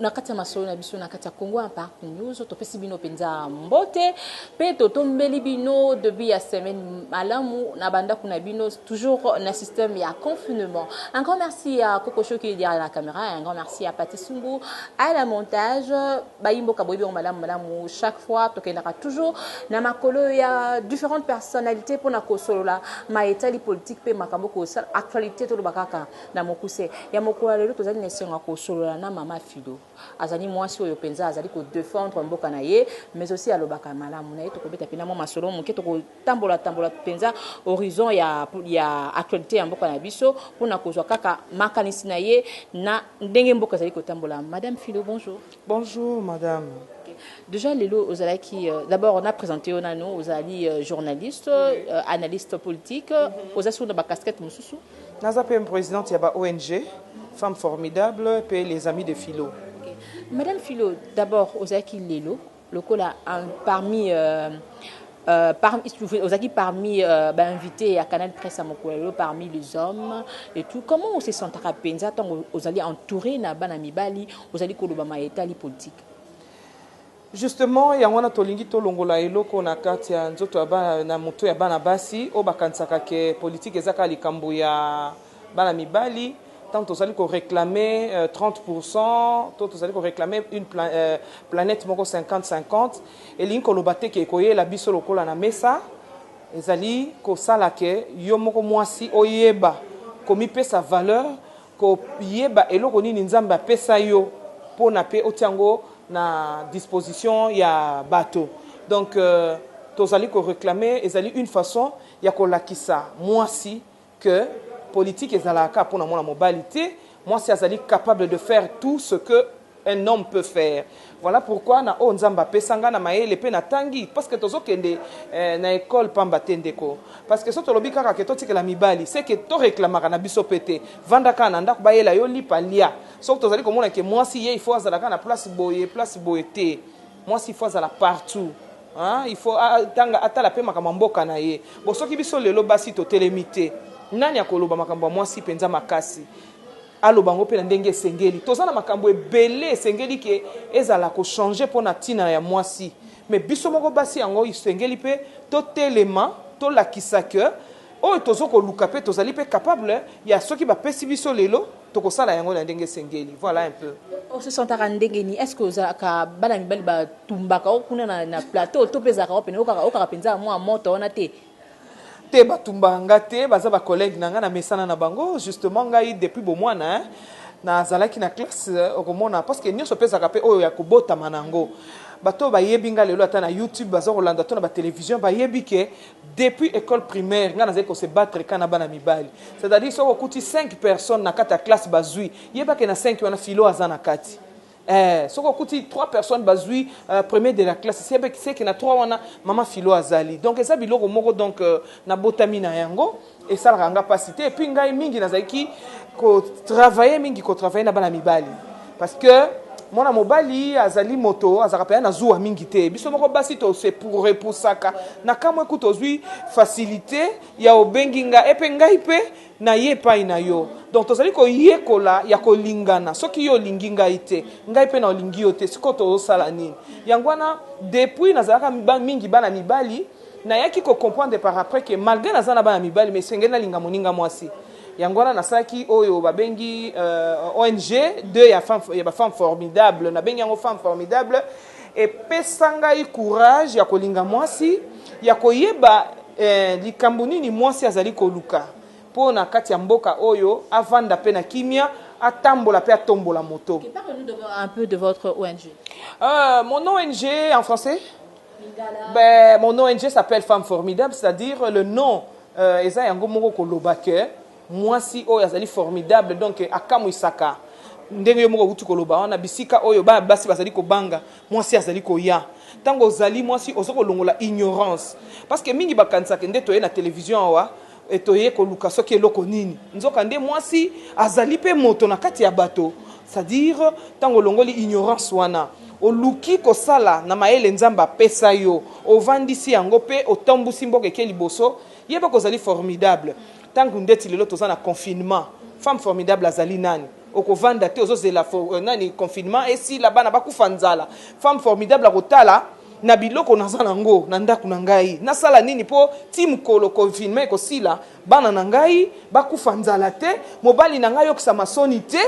na kati ya masolo na biso na kati ya Congo Impact News topesi bino mpenza mbote mpe totombeli bino debut ya semaine malamu na bandako na bino toujours na système ya confinement un grand merci ya Coco Show qui est derrière la caméra un grand merci ya Pati Sumbu à la montage bayimboka boyebi yango malamu malamu chaque fois tokendaka toujours na makolo ya différentes personnalités mpo na kosolola ma etali politique mpe makambo kosala actualité toloba kaka Na mokuse, ya mokolo ya lelo tozali na esengo ya kosolola na mama Fido. Azali muasi oyo penza azali ko defendre mboka na ye mais aussi alobaka malamu. Na ye tokobeta penza mua masolo moke, toko tambola tambola penza horizon ya ya actualite ya mboka na biso pona kozua kaka makanisi na ye na ndenge mboka ezali kotambola. Madame Fido, bonjour. Bonjour madame. Dejà lelo ozalaki d'abord na presenter yo nanu ozali journaliste analyste politique oza sikoyo na ba casquettes mosusu? Naza pe presidente ya ba ong femme formidable pe les amis de philo. Madame Philo d'abord ozalaki lelo lokola parmi Euh, par, ozaki parmi euh, ba invité ya Canal Presse à Mokwelo parmi les hommes et tout comment on se sentaka penza tant ozali entouré na bana mibali ozali koloba ma etali politique justement yango wana tolingi tolongola eloko na kati ya nzoto ya bana na moto ya bana basi oyo bakanisaka ke politike eza kaka likambo ya Bana mibali, tango tozali ko reclamer 30 pourcent to tozali ko reclamer une planète moko 50, 50, elingi koloba te que ekoyela biso lokola na mesa, ezali kosala que yo moko muasi oyeba komipesa valeur, koyeba eloko nini Nzambe apesa yo pona pe otia yango na disposition ya bato. Donc, tozali ko reclamer ezali une façon ya kolakisa muasi, que politique ezalaka kaka pona mwana mobali te, mwasi azali capable de faire tout ce que un homme peut faire, voila pourquoi na oyo Nzambe apesa nga na mayele pe na tangi parce que tozo kende na ecole pamba te ndeko, parce que soki tolobi kaka que totikela mibali ce que to reclamaka na biso pe te, vanda kaka na ndaku bayela yo lipa lia, soki tozali komona que mwasi ye il faut azala kaka na place boye place boye te. Mwasi il faut azala partout hein il faut atanga atala pe makambo ya mboka na ye bon soki biso lelo basi totelemi te nani akoloba makambo ya mwasi penza makasi aloba yango pe na ndenge esengeli toza na makambo ebele esengeli ke ezala ko changer pona tina ya mwasi mais biso moko basi yango esengeli pe totelema tolakisa que Oyo tozo koluka mpe tozali mpe capable ya soki bapesi biso lelo tokosala yango na ndenge esengeli voilà un peu. O se sentaka ndenge nini? Est-ce que ozalaka bana mibali ba tumbaka yo kuna na na plateau to mpe ezalaka yo pene oyokaka oyokaka mpenza mua moto wana te? Te ba tumbaka nga te baza ba collegues na nga na mesana na bango justement ngai depuis bomuana hein na zalaki na classe okomona parce que nionso mpe ezalaka mpe oyo ya kobotama na yango bato oyo bayebi nga lelo ata na YouTube baza kolanda to na ba television bayebi ke Depuis ecole primaire nga nazali ko se battre kaka na bana mibali. C'est à dire soki okuti cinq personnes na kati ya classe bazui, yeba ke na cinq wana Philo aza na kati. Ee, soki okuti trois personnes bazui premier de la classe, yeba ke na trois wana mama Philo azali. Donc eza biloko moko donc nabotami na yango. Esalaka nga pasi te puis ngai mingi nazalaki ko travailler mingi ko travailler na bana mibali parce que mwana mobali azali moto azalaka pena na zuwa mingi te biso moko basi to se repusaka na kamwe kutu ozwi facilite ya obengi nga epe ngai pe na ye epai na yo donc tozali koyekola ya kolingana soki yo olingi ngai te ngai pe na olingi yo te sikoyo tozosala nini yango wana depuis nazalaka mingi bana mibali Nayaki ko comprendre par après que malgre naza na bana mibali mais esengeli nalinga moninga mwasi. Yango wana nasalaki oyo babengi ong deux ya femme ya ba femme formidable nabengi yango femme formidable epesa ngai courage ya kolinga mwasi ya koyeba likambo nini mwasi azali koluka mpo na kati ya mboka oyo avanda mpe na kimia atambola mpe atombola moto. Parle nous un peu de votre ong. Euh, mon ong en français? Ben, mon ONG s'appelle Femme Formidable, c'est-à-dire le nom euh, eza yango moko koloba que mwasi oyo azali formidable donc akamwisaka ndenge yo moko okuti koloba wana bisika oyo bana basi bazali kobanga mwasi azali koya ntango ozali mwasi oza kolongola ignorance parce que mingi bakanisaka nde toye na television awa E Toyei koluka soki eloko nini? Nzokande mwasi azali mpe moto na kati ya bato, c'est à dire ntango olongoli ignorance wana, oluki kosala na mayele Nzambe apesa yo, ovandisi yango mpe otambusi mboka eke liboso, yeba que ozali formidable. Ntango ndeti lelo toza na confinement, femme formidable azali nani? Okovanda te ozozela euh, nani confinement esila bana bakufa nzala. Femme formidable akotala na biloko naza nango na ndako na ngai nasala nini mpo ti mokolo confinement ekosila bana na ngai bakufa nzala te mobali na ngai ayokisa masoni te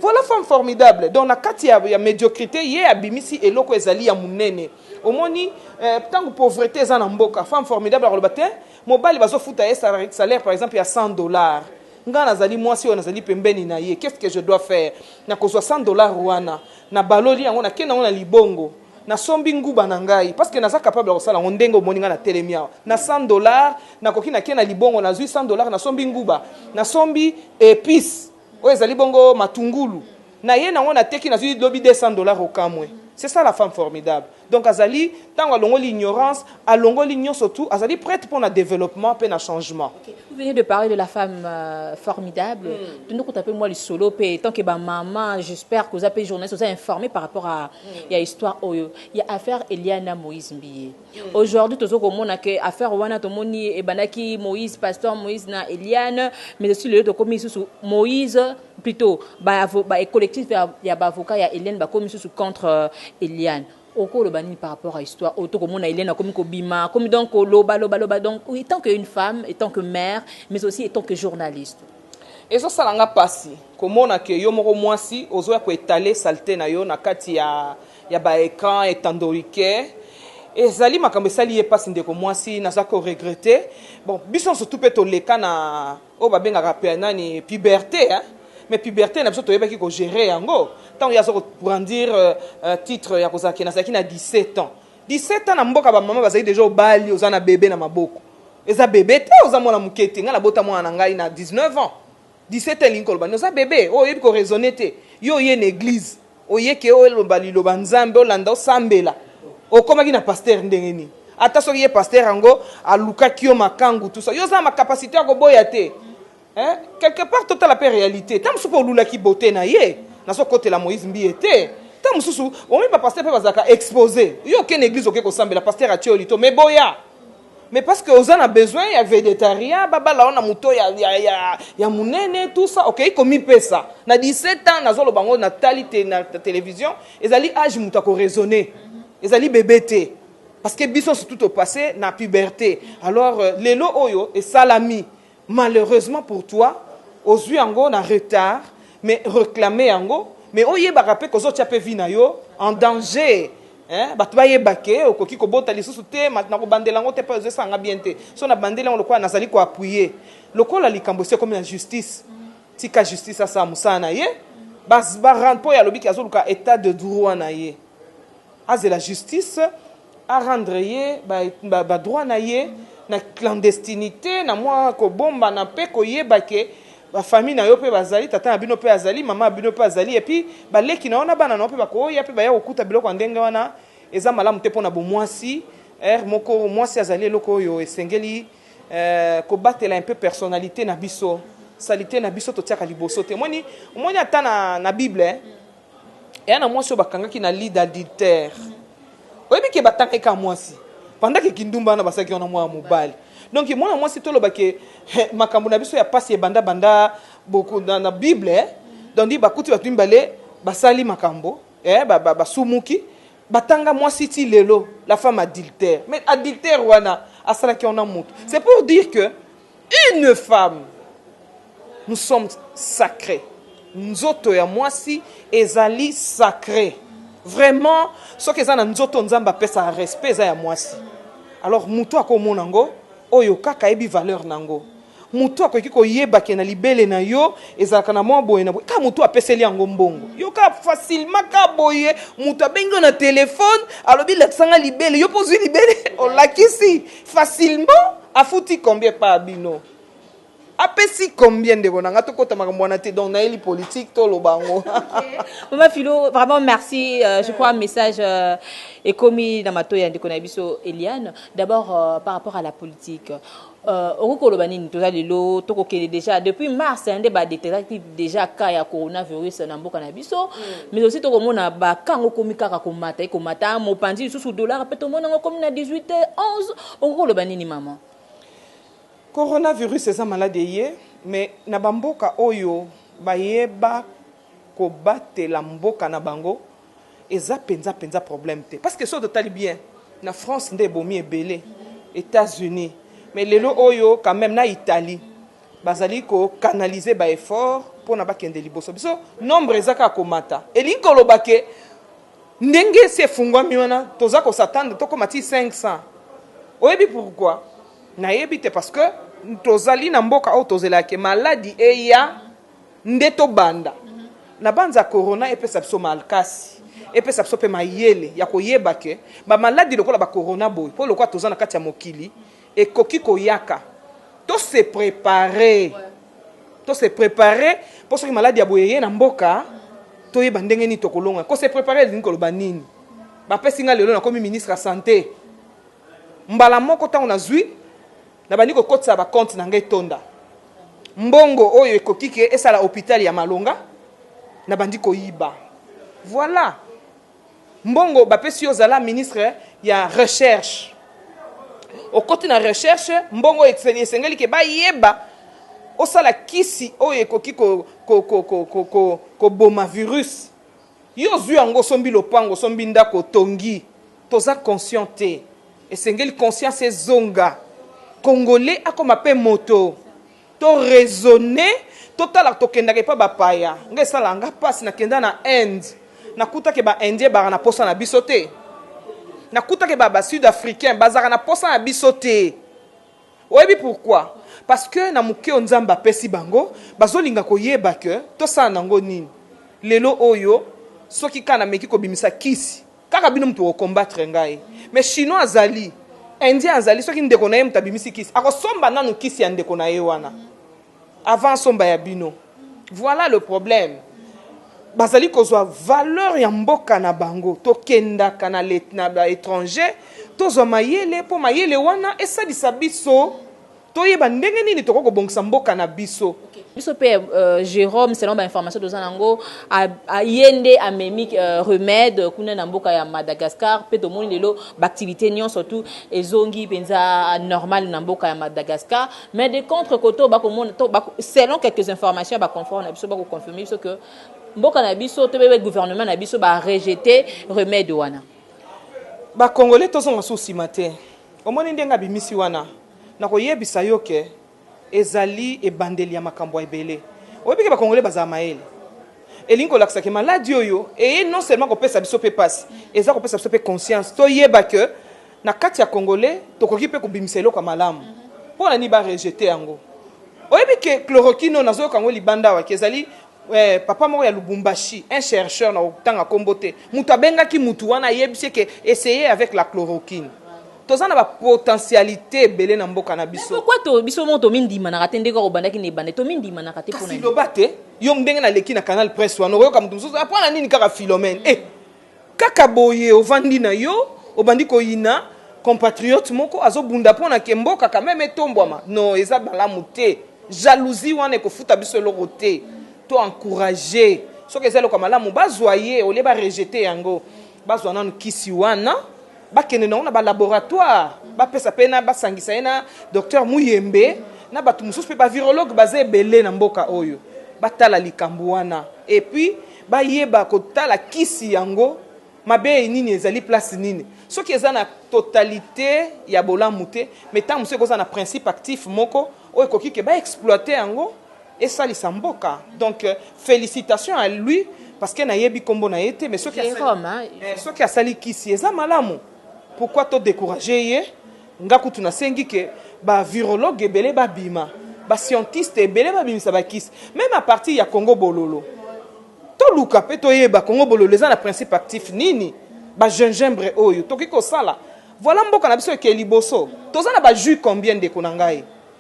voilà femme formidable donc na kati ya, ya médiocrité ye abimisi eloko ezali ya monene omoni eh, ntango eh, pauvreté eza na mboka femme formidable akoloba te mobali bazofuta ye salaire par exemple ya 100 dollars Nga nazali mwasi oyo nazali pembeni na ye qu'est-ce que je dois faire? Nakozua 100 dollars wana na baloli yango na kei na yango na libongo na sombi nguba na ngai parce que naza capable ya kosala yango ndenge omoni nga na telemi awa na 100 dollars na koki na kei na libongo na zui 100 dollars na sombi nguba na sombi epice oyo ezali bongo matungulu naye na ngo na teki na zui lobi 200 dollars okamwe c'est ça la femme formidable donc azali tango alongoli ignorance alongoli nionso tout azali prete pona developpement pe na changement okay. vous venez de parler de la femme euh, formidable mm. tondo kuta pe moi lisolo pe tant que ba maman j'espère que vous avez journaliste vous avez informé par rapport à mm. ya histoire oyo ya affaire Eliana Moïse Mbiye mm. aujourd'hui tozo komona que affaire wana tomoni ebanaki Moïse pasteur Moïse na Eliane mais aussi le to komi sous Moïse Plutot ba avo ba collectif ya ya ba avocats ya Eliane ba komi susu contre Eliane oko loba nini par rapport à histoire oyo to ko mona Eliane akomi ko bima akomi donc ko loba loba loba donc oui tant que une femme etant que mère mais aussi etant que journaliste. Ezo sala nga pasi ko mona que yo moko muasi ozo ya ko etaler salete na yo na kati ya ya ba ecrans etandorique ezali makambo esali ye pasi ndeko muasi naza ko regretter bon biso nioso tout pe to leka na oyo babengaka pe nani puberte hein? mais puberte na biso toyebaki ko gérer yango tango ye aza ko brandir euh, euh, titre ya kozala ke nazalaki na 17 ans 17 ans na mboka ba mama bazali deja obali oza na bebe na maboko eza bebe te oza mwana moke te ngai nabota mwana na ngai na 19 ans 17 ans elingi koloba oza bebe oyo oh, oyebi ko raisonner te yo oye na église Oye ke olomba liloba nzambe olanda osambela okomaki na pasteur ndenge nini ata soki ye pasteur yango alukaki yo makangu tout ça yo oza na capacité ya koboya te hein? quelque part totala pe realite ta mosusu pe olulaki beauté na ye nazo kotela Moïse mbiye te ta mosusu omi ba pasteur pe bazalaka expose yo okende église oke kosambela pasteur atie yo lito mais boya Mais parce que oza na besoin ya vedetaria babala yo na moto ya, ya, ya, ya munene tout ça okei okay, komipesa na 17 ans nazoloba yango natali te na television ezali age moto akoraisonne ezali bebe te parce que biso surtout topasse na puberté alors euh, lelo oyo esalami Malheureusement pour toi ozui yango na retard mais reclamer yango mais oyebaka pe kozo tia pe vie na yo en danger hein batu bayeba que okoki kobota lisusu te matu na kobandela yango te po ezo esala nga bien te soki na bandeli yango lokola nazali ko appuyer lokola likambo esi ekomi na justice tika justice asala musala na ye ba ba rendre po ye alobi ke azo luka etat de droit na ye azela justice A rendre ye ba droits na ye na clandestinite, na mua kobombana mpe koyeba que ba familles na yo mpe bazali, tata na bino mpe azali, mama na bino mpe azali, et puis ba leki na yo na bana na yo mpe bakoya mpe baya kokuta biloko ya ndenge wana, eza malamu te mpo na bomuasi. Heure moko muasi azali eloko oyo esengeli kobatela un peu personnalite na biso, salite na biso totiaka liboso te, omoni, omoni ata na bible. Eya na mwasi oyo bakangaki na lit d'adultère. Oyebi ke batangaki kaka mwasi. Pendant ke kindumba wana basalaki wana mwana mobali. Donc mwana mwasi toloba ke makambo na biso ya pasi ebanda banda boko na na bible eh. Donc dit bakuti batu mibale basali makambo eh ba ba basumuki batanga mwasi ti lelo la femme adultère. Mais adultère wana asalaki wana mutu. C'est pour dire que Une femme nous sommes sacre nzoto ya mwasi ezali sacre vraiment soki eza na nzoto nzambe apesaka respect eza ya mwasi alors mutu akomona ngo oyo kaka ayebi valeur na ngo mutu akoki koyeba ke na libele na yo ezalaka na mwa boye na boye ka mutu apeseli yango mbongo yo ka facilement ka boye mutu abengi yo na telefone alobi lakisanga libele yo mpo ozwi libele olakisi Facilement afuti combien epa ya bino? Apesi combien ndeko na nga tokota makambo wana te donc nayeli politique toloba yango. Maman Philo vraiment merci euh, je crois message euh, ekomi na matoyi ya ndeko na biso Eliane d'abord euh, par rapport à la politique euh, okoki koloba nini toza lelo tokokende déjà depuis mars nde ba détectaki dejà cas ya coronavirus na mboka na biso mais aussi tokomona ba cas yango ekomi kaka komata ekomata mopanzi lisusu dollar mpe tomona yango ekomi na 18 11 okoki koloba nini mama coronavirus eza maladi eye mais na bamboka oyo bayeba kobatela mboka na bango eza mpenza mpenza problème te parce que soki totali bien na france nde ebomi ebele etats unis mais lelo oyo quand même na italie Bazali ko canaliser ba efforts pona bakende liboso. Biso nombre eza kaka komata. Elingi koloba que ndenge esi efungwami wana toza ko s'attendre tokoma ti 500. Oyebi pourquoi? Nayebi te parce que tozali na mboka oyo tozelaka que maladi eya nde tobanda. Nabanza corona epesa biso malkasi, epesa biso pe mayele ya koyeba que ba maladi lokola ba corona boye po lokola toza na kati ya mokili, Ekoki koyaka to se preparer to se preparer po soki maladi ya boye eye na mboka toyeba ndenge nini tokolonga ko se preparer elingi koloba nini bapesi nga lelo nakomi ministre ya sante mbala moko ntango nazwi nabandi kokotisa bakonte na ngai etonda mbongo oyo ekoki ke esala hopitale ya malonga nabandi koyiba voilà Mbongo bapesi yo zala ministre ya recherche okoti na recherche mbongo esengeli ke bayeba osala kisi oyo ekoki koboma virus yo ozui yango osombi lopango osombi ndako otongi toza conscient te esengeli conscience ezonga congolais akoma pe moto. To raisonner totala tokendaka epa ba paya nga esalaka nga pasi na kenda na inde na kuta ke ba indien baka na posa na biso te na kuta ke ba ba sud africain bazaka na posa na biso te oyebi pourquoi parce que na moke o nzambe apesi bango bazolinga koyeba ke tosala nango nini lelo oyo soki ka na meki kobimisa kisi Kaka bino mutu boko combattre ngai mais chinois azali indien azali soki ndeko na ye mutu abimisi kisi ako somba nanu kisi ya ndeko na ye wana avant asomba ya bino voilà le problème bazali kozwa valeur ya mboka na bango tokendaka na ba étranger tozwa mayele mpo mayele wana esalisa biso Toyeba ndenge nini tokoki kobongisa mboka na biso. Biso pe Jerome selon ba informations toza na ngo ye nde amemi remede kuna na mboka ya Madagascar pe tomoni lelo ba activites nionso tout ezongi penza normal na mboka ya Madagascar mais de contre cote oyo bako mona to selon quelques informations ya ba confreres na biso bako confirmer biso que mboka na biso to pe gouvernement na biso ba rejete remede wana. Ba congolais tozonga susu sima te omoni ndenge abimisi wana. Nakoyebisa yo que ezali ebandeli ya makambo ebele. Oyebi que ba congolais bazala mayele. Elingi kolakisa que maladi oyo eye non seulement kopesa biso pe pasi, eza kopesa biso pe conscience toyeba que na kati ya congolais tokoki pe kobimisa eloko ya malamu. Pona nini ba rejeter yango? Oyebi que chloroquine oyo nazoyoka yango libanda awa que ezali Eh papa moko ya Lubumbashi, un chercheur, nakotanga kombo te, mutu abengaki mutu wana ayebisi ye ke essayer avec la chloroquine. Toza na ba potentialites ebele na mboka na biso. Mais pourquoi biso moko tomindimanaka te ndenge obandaki na ebandeli? Tomindimanaka te pona nini? Kasi loba te, yo ndenge naleki na canal presse wana, okoyoka mutu mosusu, eh pona nini kaka Philomène? Eh! Kaka boye ovandi na yo obandi koyina compatriote moko azo bunda pona ke mboka quand meme etombwama no eza malamu te jalousie wana ekofuta biso eloko te to encourage soki eza eloko ya malamu bazwa ye olie ba rejete yango bazwa nanu kisi wana bakende nango na ba laboratoire bapesa pe na basangisa ye na docteur Muyembe na bato mosusu pe ba virologue baza ebele na mboka oyo batala likambo wana et puis Bayeba kotala kisi yango mabee nini ezali place nini soki eza na totalite ya bolamu te mais tango mosusu ekoza na principe actif moko oyo ekoki ke ba exploiter yango esalisa mboka donc felicitation à lui parce que nayebi kombo na ye te mais soki asali kisi eza malamu pourquoi to decourager ye Nga kutu na sengi que ba virologues ebele ba bima, ba scientistes ebele ba bimisa ba kisi, meme à partir ya Congo bololo. To luka pe to yeba Congo bololo eza na principe actif nini? Ba gingembre oyo tokoki ko sala, voilà mboka na biso ekeye liboso. Toza na ba jus combien ndeko na ngai?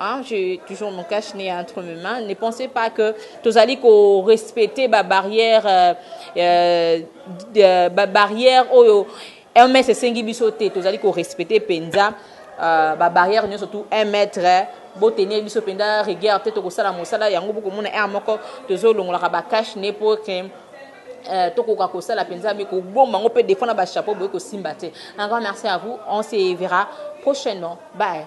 Hein, j'ai toujours mon cache-nez entre mes mains. Ne pensez pas que tozali ko respecter ba barrières, euh, euh, euh ba barrières oyo MS esengi biso te. Tozali ko respecter penza euh, ba barrières nyo surtout 1 mètre. Bo tenir biso penza rigueur te to ko sala mosala yango boko mona air moko tozo longolaka ba cache-nez pour que Euh, tokoka kosala mpenza me kobomba yango mpe defo na bachapeau boye kosimba te encore merci à vous on se verra prochainement bye